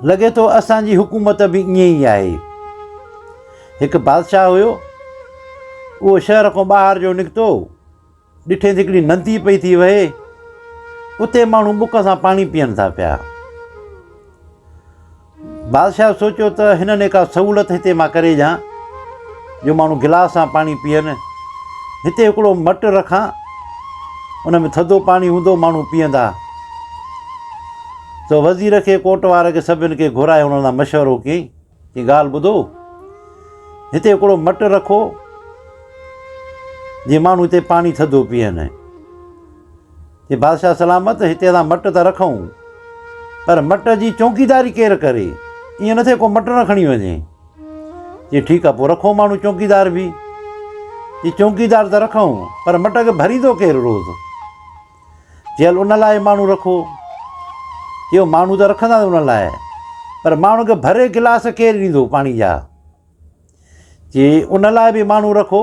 لڳي ٿو اسان جي حڪومت به ائين ئي آهي. هڪ بادشاهه هيو. اهو شهر کان ٻاهر جو نڪتو. ڏٺيس هڪڙي ندي پئي ٿي وهي. اتي ماڻهو بک سان پاڻي پيئن ٿا پيا. بادشاهه سوچيو ته هنن هڪ سهولت هتي مان ڪري ڏيان جو ماڻهو گلاس سان پاڻي پيئن. هتي هڪڙو مٽ رکان. ان ۾ ٿڌو پاڻي هوندو ماڻهو پيئندا. تو وزير کي ڪوٽ وارن کي سڀني کي گهرائي انهن سان مشورو ڪيائين، چيائين ڳالهه ٻڌو، هتي هڪڙو مٽ رکو، جيئن ماڻهو هتي پاڻي ٿڌو پيئن. چي بادشاهه سلامت، هتي اسان مٽ ته رکون، پر مٽ جي چونڪيداري ڪير ڪري؟ ائين نه ٿئي ڪو مٽ نه کڻي وڃي. چي ٺيڪ آهي، پوء رکو ماڻهو چونڪيدار به. چي چونڪيدار ته رکون، پر مٽ کي ڀريندو ڪير روز؟ چيل ان لاء ماڻهو رکو. چيو ماڻهو ته رکنداسين ان لاء پر ماڻهن کي ڀري گلاس ڪير ڏيندو پاڻي جا. چي ان لاء به ماڻهو رکو.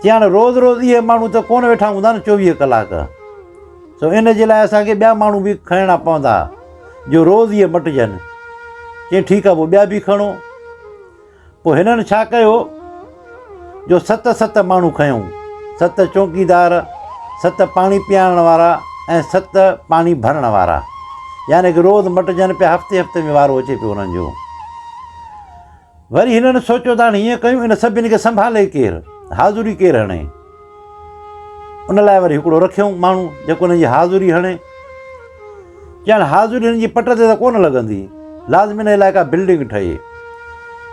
چي هاڻي روز روز اهي ماڻهو ته ڪونه ويٺا هوندا نه چوويهه ڪلاڪ سو ان جي لاء اسانکي ٻيا ماڻهو به کڻڻا پوندا جو روز اهي مٽجن چي ٺيڪ آهي پوء ٻيا به کڻو پوء هنن ڇا ڪيو جو ست ست ماڻهو کنيائون، ست چونڪيدار، ست پاڻي پيارڻ وارا ۽ ست پاڻي ڀرڻ وارا. يعني ڪه روز مٽجن پيا، هفتي هفتي ۾ وارو اچي پيو انهن جو. وري هنن سوچيو ته هاڻي هيئن ڪيون، ان سڀني کي سنڀالي ڪير؟ حاضري ڪير هڻي؟ ان لاء وري هڪڙو رکيائون ماڻهو جيڪو هن جي حاضري هڻي ڄڻ حاضري هن جي پٽ تي ته ڪونه لڳندي لازمي نه علائقا بلڊنگ ٺهي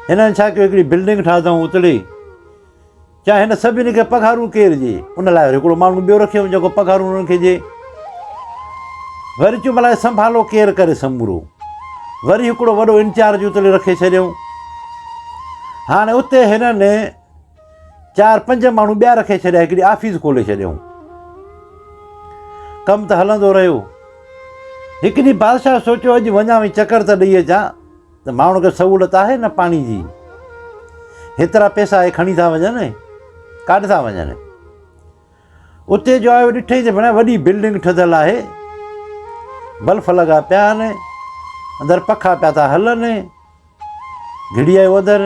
هنن ڇا ڪيو هڪڙي بلڊنگ ٺاهيائون اتڙي چاهي هن سڀني کي پگهارو ڪير ڏي ان لاء وري هڪڙو ماڻهو ٻيو رکيو جيڪو پگهارو هنن کي ڏي وري چون بلاء سنڀالو ڪير ڪري سمورو وري هڪڙو وڏو انچارج اتڙي رکي ڇڏيائون هاڻي اتي هنن چار پنج ماڻهو ٻيا رکي ڇڏيا، هڪڙي آفيس کولي ڇڏيائون. ڪم ته هلندو رهيو. هڪ ڏينهن بادشاهه سوچيو اڄ وڃان ۽ چڪر ته ڏئي اچان ته ماڻهن کي سهولت آهي نه پاڻي جي. هيترا پئسا اهي کڻي ٿا وڃن، ڪاڏ ٿا وڃن. اتي جو آيو ڏٺئي ته ڀيڻا وڏي بلڊنگ ٺڌل آهي، بلف لڳا پيا آهن، اندر پکا پيا ٿا هلن، گهڙي آيو اندر،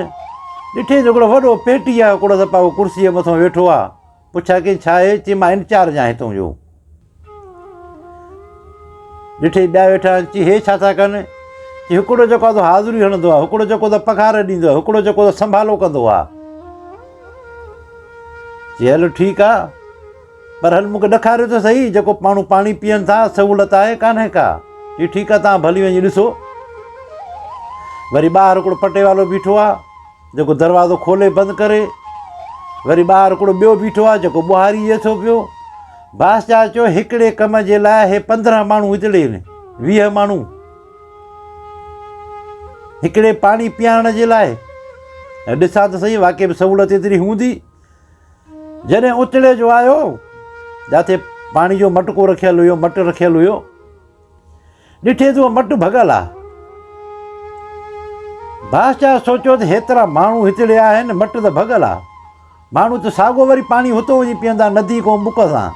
ڏٺئي جو هڪڙو وڏو پيٽي آهي، هڪڙو سپاهو ڪرسيء مٿان ويٺو آهي، پڇيا ڪين ڇا آهي؟ چيائين مان انچارج آهيان هتان جو. ڏٺئي ٻيا ويٺا آهن، چيائين هي ڇا ٿا ڪن؟ چيائين هڪڙو جيڪو آهي سو حاضري هڻندو آهي، هڪڙو جيڪو ته پگهار ڏيندو آهي، هڪڙو جيڪو ته سنڀالو ڪندو آهي. چيائين هلو ٺيڪ آهي. پر هل مون کي ڏکاريو ته سهي، جيڪو ماڻهو پاڻي پيئن ٿا، سهولت آهي ڪانهي ڪا؟ جي ٺيڪ آهي توهان به هلي وڃي ڏسو. وري ٻاهر هڪڙو پٽيوالو بيٺو آهي، جيڪو دروازو کولي بند ڪري. وري ٻاهر هڪڙو ٻيو بيٺو آهي، جيڪو ٻهاري اچي ٿو پيو. بادشاهه چيو، هڪڙي ڪم جي لاء هي پندرهن ماڻهو هتي ڏي آهن، ويهه ماڻهو هڪڙي پاڻي پيئارڻ جي لاء. ڏسان ته سهي واقعي به سهولت ايتري هوندي. جڏهن اتڙي جو آيو، جاٿي پاڻي جو مٽڪو رکيل هيو، مٽ رکيل هيو، ڏٺي ته اها مٽ ڀڳل آ. بادشاهه سوچيو ته هيترا ماڻهو هتڙي آهن، مٽ ته ڀڳل آ، ماڻهو ته ساڳو وري پاڻي هتو وڃي پيئندا، ندي ڪنهن بک سان.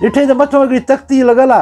ڏٺي ته مٿو هڪڙي تختي لڳل آ.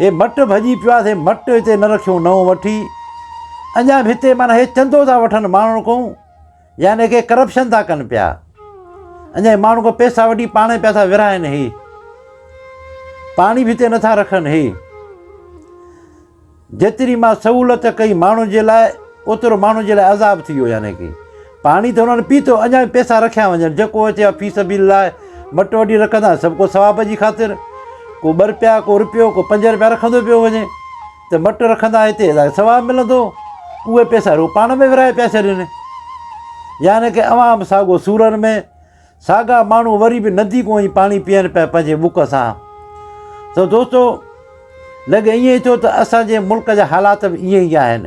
هي مٽ ڀڄي پيو آهي، سي مٽ هتي نه رکيون، نئون وٺي اڃا به هتي معنيٰ هي چندو ٿا وٺن ماڻهن کون يعني ڪي ڪرپشن ٿا ڪن پيا، اڃا ماڻهن کون پيسا وٺي پاڻ پيا ٿا ورهائن هي، پاڻي به هتي نٿا رکن هي، جيتري مان سهولت ڪئي ماڻهن جي لاء اوترو ماڻهن جي لاء عذاب ٿي ويو يعني ڪي پاڻي ته انهن پيتو، اڃا به پيسا رکيا وڃن، جيڪو اچي ها في سبيل الله مٽ وڍي رکنداسين، سڀ ڪو ثواب جي خاطر، ڪو ٻه رپيا، ڪو رپيو، ڪو پنج رپيا رکندو پيو وڃي، ته مٽ رکندا هتي اسان کي ثواب ملندو، اهي پيسا رڳو پاڻ ۾ ورهائي پيا ڇڏين. يعني ڪه اوهان به ساڳو سورن ۾، ساڳا ماڻهو وري به ندي ڪو ائين پاڻي پيئن پيا پنهنجي بک سان. ته دوستو لڳي ائين ٿو ته اسان جي ملڪ جا حالات به ائين ئي آهن.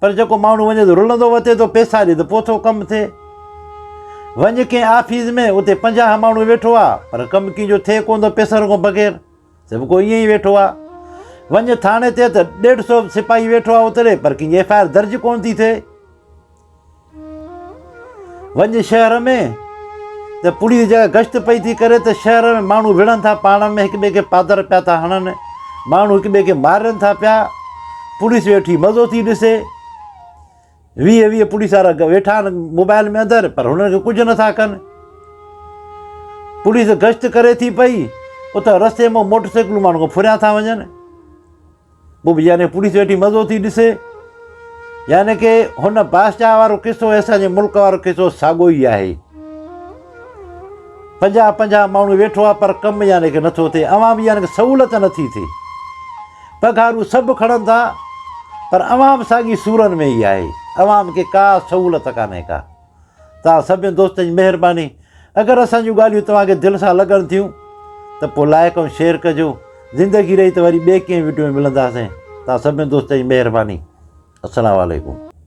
پر جيڪو ماڻهو وڃي ٿو رلندو وتي ٿو پيسا ڏي ته پوء ٿو ڪم ٿئي. وڃ ڪنهن آفيس ۾ اتي پنجاهه ماڻهو ويٺو آ پر ڪم ڪنهن جو ٿئي ڪونه ٿو پيسن کان بغير. سڀ ڪو ائين ئي ويٺو آ. وڃ ٿاڻي تي ته ڏيڍ سو سپاهي ويٺو آ اتري پر ڪنهن جي ايف آء آر درج ڪونه ٿي ٿئي. وڃ شهر ۾، ته پڙي جا گشت پئي ٿي ڪري ته شهر ۾ ماڻهو وڙهن ٿا پاڻ ۾ هڪ ٻئي کي پادر پيا ٿا هڻن ماڻهو هڪ ٻئي کي مارين ٿا پيا پوليس ويٺي مزو ٿي ڏسي ويهه ويهه پوليس وارا ويٺا آهن موبائل ۾ اندر پر هنن کي ڪجهه نٿا ڪن پوليس گشت ڪري ٿي پئي اتان رستي مان موٽر سائيڪلون ماڻهو ڦريا ٿا وڃن پوء به يعني پوليس ويٺي مزو ٿي ڏسي. يعني ڪه هن بادشاهه وارو قصو ۽ اسان جي ملڪ وارو قصو ساڳو ئي آهي. پنجاهه پنجاهه ماڻهو ويٺو آهي پر ڪم يعني ڪه نٿو ٿئي اوهان به يعني ڪه سهولت نٿي ٿئي. پگهارو سڀ کڻن ٿا پر عوام ساڳي سورن ۾ ئي آهي. عوام کي ڪا سهولت ڪانهي ڪا. توهان سڀني دوستن جي مهرباني. اگر اسان جون ڳالهيون توهان کي دل سان لڳن ٿيون ته پوء لائيڪ ۽ شيئر ڪجو. زندگي رهي ته وري ٻئي ڪنهن وڊيو ۾ ملنداسين. توهان سڀني دوستن جي مهرباني. السلام عليڪم.